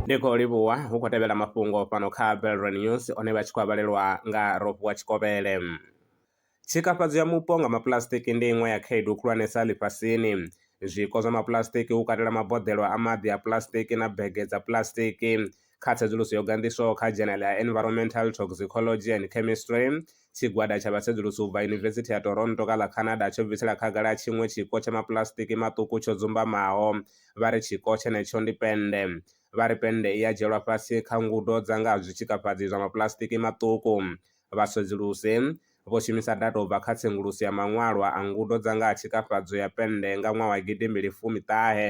ndi khou livhuwa hu khou tevhela mafhungo fhano kha belron news one vha tshi khou avhalelwa nga rofuwa tshikovhele tshikafhadzo ya mupo nga mapulasitiki ndi iṅwe ya khaedu khulwanesa ḽifhasini zwiko zwa mapulasitiki hu katela maboḓelo a maḓi a pulasitiki na bege dza pulasitiki Kha tsedzuluso yo ganḓiswaho kha dzhenele ya Environmental Toxicology and Chemistry, tshigwada tsha vhasedzulusi u bva Yunivesithi ya Toronto kha ḽa Canada tsho bvisela khagala tshiṅwe tshiko tsha mapuḽasitiki maṱuku tsho dzumbamaho, vha ri tshiko tshenetsho ndi pennde. Vha ri pennde i a dzhielwa fhasi kha ngudo dza nga ha zwitshikafhadzi zwa mapuḽasitiki maṱuku. Vhasedzulusi vho shumisa data u bva kha tsenguluso ya maṅwalwa a ngudo dza nga ha tshikafhadzo ya pennde nga ṅwaha wa gidimbili fumi ṱahe.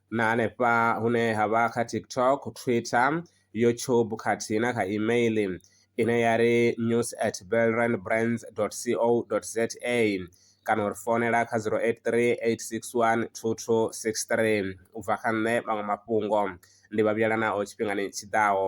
na hanefha hune ha vha kha tiktok twitter youtube khathihi na kha email ine ya ri news at belrandbrands co za kana uri founela kha 083 861 2263 u bva kha nṋe maṅwe mafhungo ndi vha vhuyela nao tshifhingani tshiḓaho